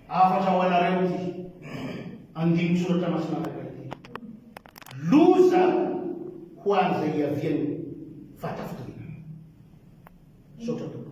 Hafatra ho anareo ity andinin-tsoratra masina anankiray ity. Loza ho an'izay hiavian'ny fahatafitoriana. Misaotra Tompo.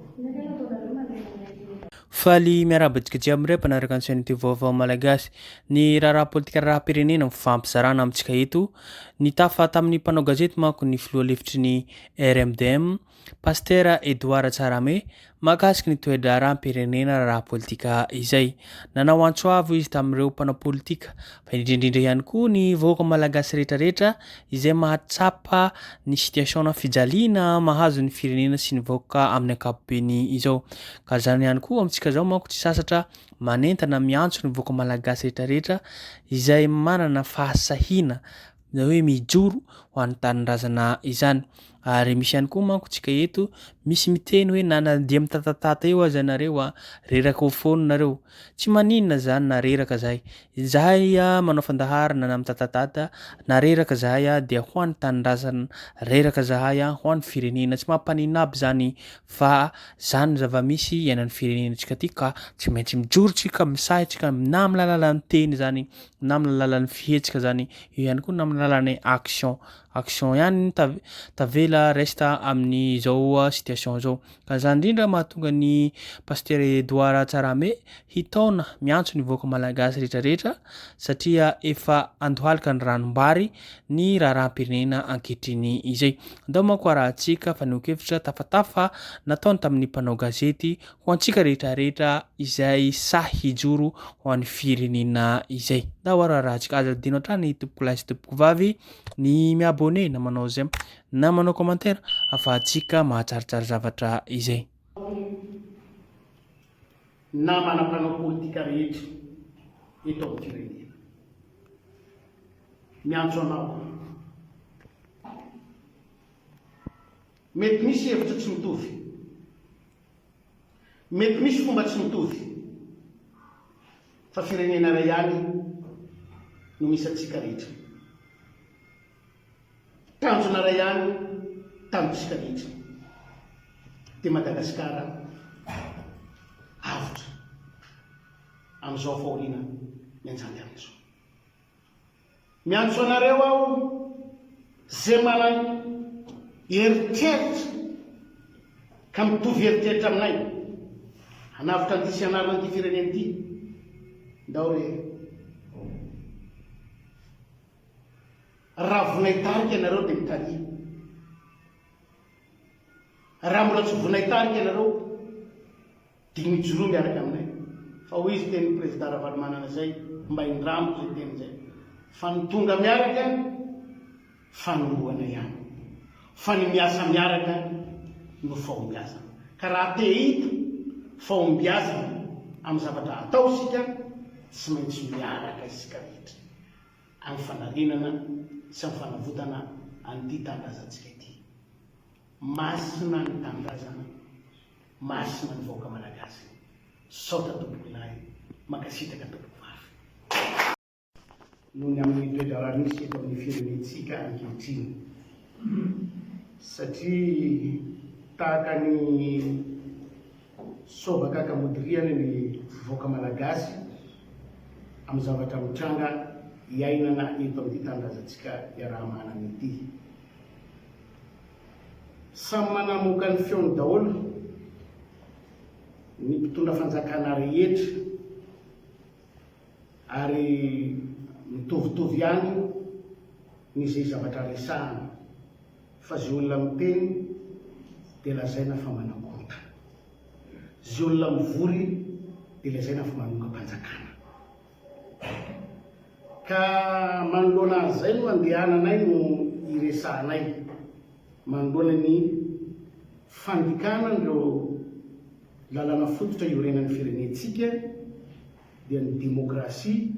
Faly miarahaba antsika jiaby miray mpanaraka ny Chaîne TV Vaovao Malagasy. Ny raharaha politika raharaham-pirenena mifampizarana amintsika eto. Nitafa tamin'ny mpanao gazety manko ny filoha lefitry ny RMDM, Pasitera Edouard Tsarame mahakasika ny toe-draharaham-pirenena ara-politika izay. Nanao antso avo izy tamin'ireo mpanao politika fa indrindra indrindra ihany koa ny vahoaka malagasy rehetra rehetra izay mahatsapa ny situation-na fijaliana mahazo ny firenena sy ny vahoaka amin'ny ankapobeny izao. Ka izany ihany koa amintsika izao manko tsy sasatra manentana miantso ny vahoaka malagasy rehetra rehetra izay manana fahasahiana izany hoe mijoro ho an'ny tanindrazana izany. Ary misy ihany koa manko tsika eto misy miteny hoe na nandeha mitatatata eo aza nareo a reraka ho foana nareo tsy maninona zany na reraka zahay zahay a manao fandaharana na mitatatata na reraka zahay a dia ho an'ny tanindrazana reraka zahay a ho an'ny firenena tsy mampanina aby zany fa zany zava-misy iainan'ny firenenantsika ty ka tsy maintsy mijoro tsika misahy tsika na amin'ny lalalan'ny teny zany na amin'ny alalan'ny fihetsika zany eo ihany koa na amin'ny alalan'ny action action ihany tavela resta amin'ny zao uh, situation zao ka zany indrindra mahatonga ny pasteur Edouard Tsarame hitaona miantso ny vahoaka malagasy rehetrarehetra satria efa andohalika ny ranombary ny raharaham-pirenena ankehitriny izay ndao manko arahantsika fanehoan-kevitra tafatafa nataony tamin'ny mpanao gazety ho antsika rehetrarehetra izay sahy hijoro ho an'ny firenena izay. Ndao ary arahantsika, aza adino hatrany tompoko lahy sy tompoko vavy ny miabone na manao zem na manao commentaire afahantsika mahatsaritsary zavatra izay. Namana mpanao politika rehetra eto amin'ny firenena. Miantso anao. Mety misy hevitra tsy mitovy. Mety misy fomba tsy mitovy. Fa firenena iray ihany no misy antsika rehetra. Tanjona iray ihany tamintsika rehetra. Dia Madagasikara avotra amin'izao fahoriana mianjady amin'izao. Miantso anareo aho ze manan eritreritra ka mitovy eritreritra aminay hanavotra an'ity sy hanarina an'ity firenena ity ndao re raha vonaitarika ianareo dia mitalia raha mbola tsy vonaitarika ianareo Dia mijoroa miaraka aminay. Fa hoy izy teny Prezida Ravalomanana izay mba indramiko izay teny izay. Fa ny tonga miaraka fanombohana ihany. Fa ny miasa miaraka no fahombiazana. Ka raha te hahita fahombiazana amin'ny zavatra atao isika tsy maintsy miaraka isika rehetra amin'ny fanarenana sy amin'ny fanavotana an'ity tanindrazantsika ity. Masina ny Tanindrazana, Masina ny vahoaka Malagasy, Misaotra tompoko lahy, Mankasitraka tompoko vavy. Noho ny amin'ny toe-draharaha misy eto amin'ny firenentsika ankehitriny, satria tahaka ny soavakaka modiriany ny vahoaka Malagasy amin'ny zavatra mitranga iainana eto amin'ity tanindrazantsika iaraha-manana ity. Samy manamoaka ny feony daholo ny mpitondra fanjakana rehetra ary mitovitovy ihany ny izay zavatra resahana fa izay olona miteny dia lazaina fa manakonta, izay olona mivory dia lazaina fa manongam-panjakana. Ka manoloana an'izay no andehananay no iresahanay manoloana ny fandikana an'ireo lalàna fototra iorenan'ny firenentsika dia ny demokrasia,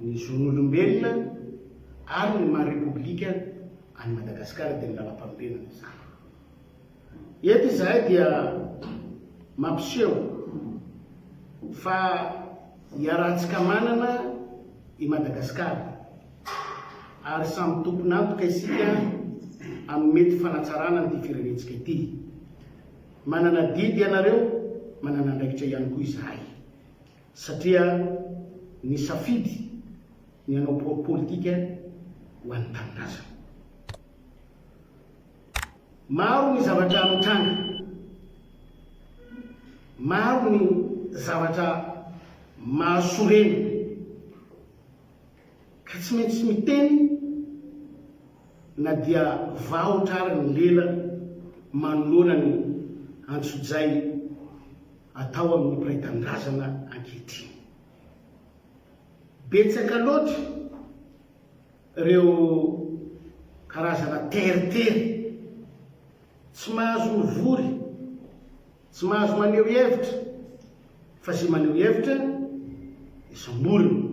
ny zon'olombelona ary ny maha repoblika an'i Madagasikara dia ny lalampanorenana izany. Eto izahay dia mampiseho fa iarahantsika manana i Madagasikara ary samy tompon'antoka isika amin'ny mety fanatsarana an'ity firenentsika ity. Manana adidy ianareo, manana andraikitra ihany koa izahay satria nisafidy ny hanao politika ho an'ny tanindrazana. Maro ny zavatra mitranga. Maro ny zavatra mahasorena. Ka tsy maintsy miteny na dia vahotra ary ny lela manoloana ny antsojay atao amin'ny mpiray tanindrazana ankehitriny. Betsaka loatra. Ireo karazana teritery tsy mahazo mivory, tsy mahazo maneho hevitra, fa izay maneho hevitra dia samborina,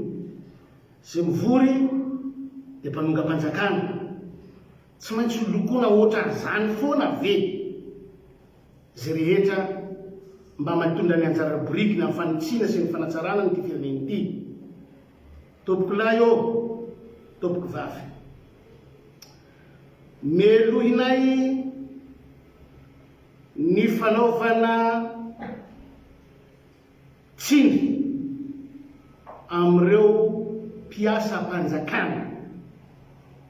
izay mivory dia mpanongam-panjakana. Tsy maintsy ho lokoina ohatran'izany foana ve izay rehetra mba mitondra ny anjara biriky ny amin'ny fanitsiana sy ny fanatsarana an'ity firenena ity? Tompoko lahy ô! Tompoko vavy! Melohinay ny fanaovana tsiny amin'ireo mpiasam-panjakana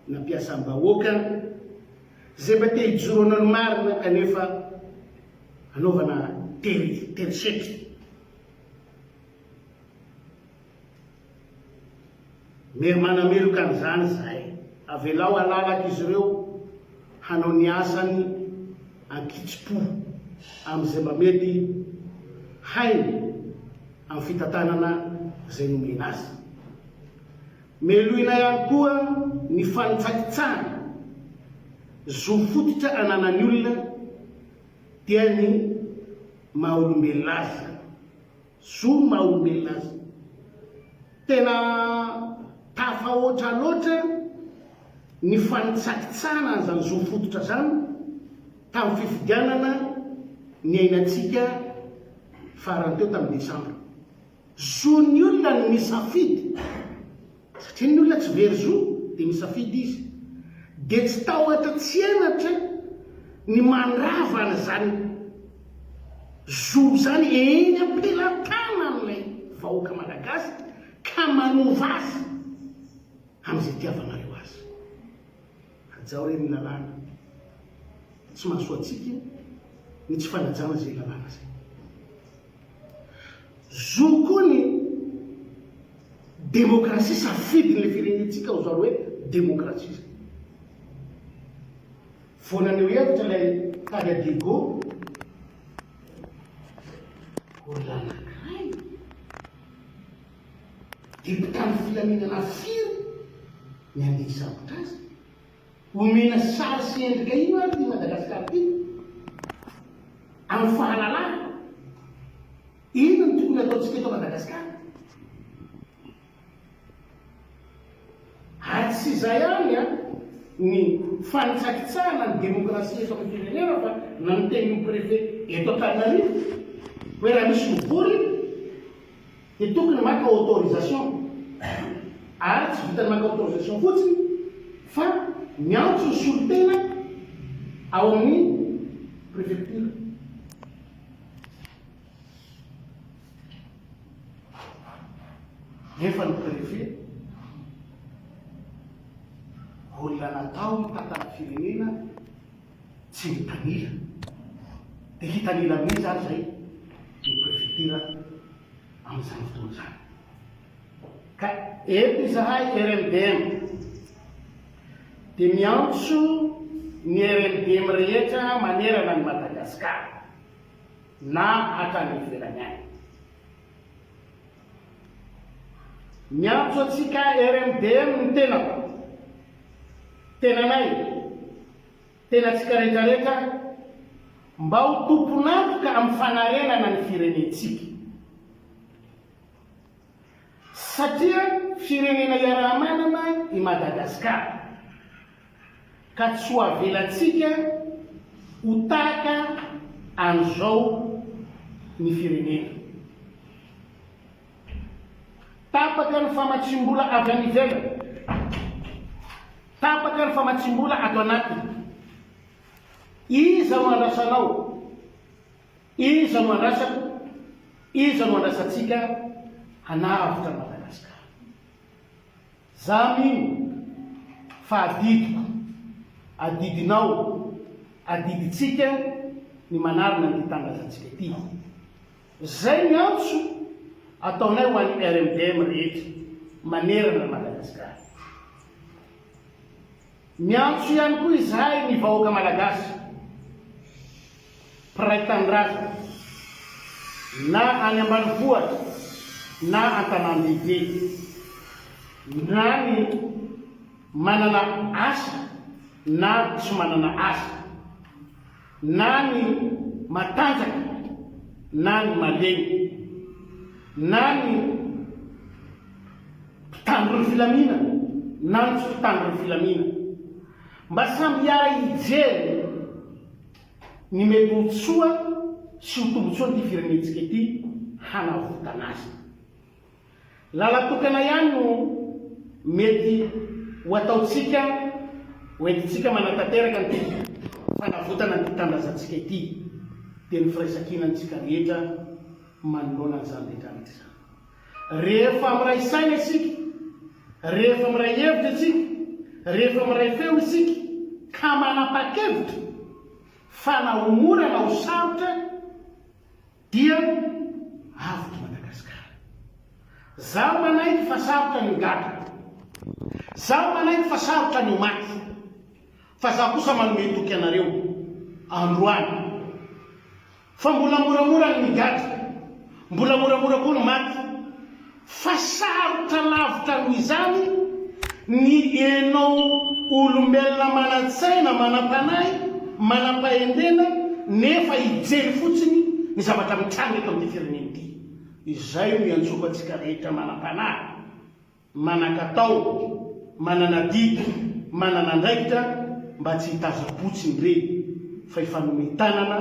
na mpiasam-bahoaka izay mba te hijoro hanao ny marina kanefa anaovana tery, tery setra. Mety manameloka an'izany izay. Avelao halalaka izy ireo hanao ny asany an-kitsim-po amin'izay mba mety hainy amin'ny fitantanana izay nomena azy. Meloina ihany koa ny fanitsakitsahana zo fototra ananan'ny olona dia ny maha-olombelona azy izany. Zo ny maha olombelona azy. Tena tafahoatra loatra ny fanitsakitsahana an'izany zo fototra izany tamin'ny fifidianana niainantsika farany teo tamin'ny desambra. Zon'ny olona ny misafidy. Satria ny olona tsy very zo dia misafidy izy. Dia tsy tahotra tsy henatra ny mandrava an'izany zo izany eny am-pelatanan'ilay vahoaka malagasy ka manova azy amin'izay itiavanareo azy. Hajao re ny lalàna. Tsy mahasoa antsika ny tsy fanajana izay lalàna izay. Zo koa ny demokrasia safidin'ilay firenentsika ho zary hoe demokrasia izay. Vao naneho hevitra ilay tady Adego, olona nankany. Dia mpitandro filaminana firy ny handeha hisambotra azy? Omena sary sy endrika ino ary ity Madagasikara ity amin'ny fahalalana? Inona no tokony hataontsika eto Madagasikara? Ary tsy izay ihany ny fanitsakitsahana ny demokrasia eto amin'ny firenena fa nanonteny ny Préfet eto Antananarivo hoe raha misy mivory Dia tokony maka autorisation. Ary tsy vitan'ny maka autorisation fotsiny fa miantso ny solontena ao amin'ny prefecture. Nefa ny préfet olona natao hitantana firenena. tsy mitanila dia hitanila amin'iza ary izay ny prefektira amin'izany fotoana izany? Ka eto izahay RMDM dia miantso ny RMDM rehetra manerana an'i Madagasikara na hatrany ivelany any. Miantso antsika RMDM ny tenako, tenanay, Tena tsikarekareka mba ho tompon'antoka amin'ny fanarenana ny firenentsika. Satria firenena iaraha-manana i Madagasikara, ka tsy ho avelantsika ho tahaka an'izao ny firenena. Tapaka ny famatsiam-bola avy any ivelany, tapaka ny famatsiam-bola ato anatiny. Iza no andrasanao? Iza no andrasako? Iza no andrasantsika hanavotra an'i Madagasikara? Za mino fa adidiko, adidinao, adidintsika ny manarina an'ity tanindrazantsika ity. Izay ny antso ataonay ho an'ny RMDM rehetra manerana an'i Madagasikara. Miantso ihany koa izahay ny vahoaka Malagasy mpiray tanindrazana na any ambanivohitra na an-tanàn-dehibe na ny manana asa na tsy manana asa, Na ny matanjaka na ny malemy, na ny mpitandro ny filaminana na ny tsy mpitandro ny filaminana, mba samy hiara hijery ny mety ho soa sy ho tombotsoan'ity firenentsika ity hanavotana azy. Lalan-tokana ihany no mety ho ataontsika ho entintsika manatanteraka an'ity fanavotana an'ity tanindrazantsika ity, dia ny firaisankina antsika rehetra manoloana an'izany rehetra rehetra izany. Rehefa miray saina isika, rehefa miray hevitra isika, rehefa miray feo isika ka manapa-kevitra fa na ho mora na ho sarotra, Dia avotra Madagasikara. Zaho manaiky fa sarotra ny gaga. Zaho manaiky fa sarotra ny maty. Fa zaho kosa manome toky anareo, androany, fa mbola moramora ny migadra, mbola moramora koa ny maty. Fa sarotra lavitra amin'izany ny ianao olombelona manan-tsaina, manam-panahy, manam-pahendrena nefa hijery fotsiny ny zavatra mitranga eto amin'ity firenena ity. Izay no iantsoko antsika rehetra manam-panahy, manan-katao, manana didy, manana andraikitra mba tsy hitazam-potsiny ireny fa hifanome tanana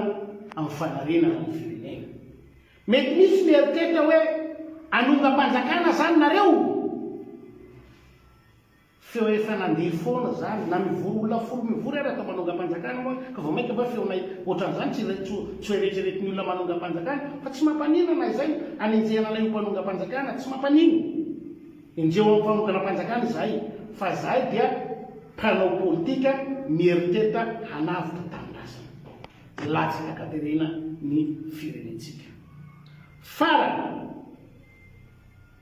amin'ny fanarenana ny firenena. Mety misy mieritreritra hoe hanongam-panjakana zany nareo? Feo efa nandeha foana zany, na mivory olona folo mivory ary atao manongam-panjakana moa ka vao mainka va feonay ohatran'izany tsy tsy ho eretreretin'ny olona manongam-panjakana fa tsy mampanina na izay anenjehana anay ho mpanongam-panjakana tsy mampanina enjeho amin'ny fanonganam-panjakana izahay fa izahay dia mpanao politika mieritreritra hanavotra tanindrazana. Tsy latsaka ka terena ny firenentsika. Farany.